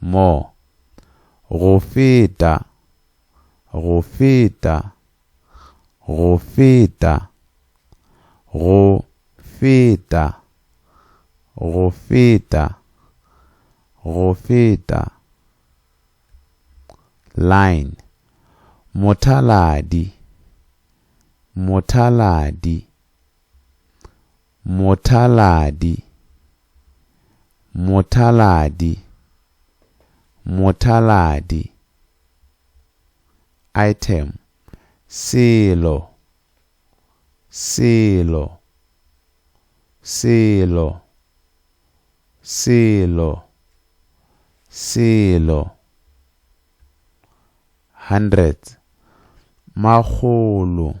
Mo. Go feta. Go feta. Go feta. Go feta. Go feta. Go feta. Line. Mothaladi. Mothaladi. Mothaladi, mothaladi, mothaladi. Item, Selo, selo, selo, selo, selo. Hundreds, makgolo,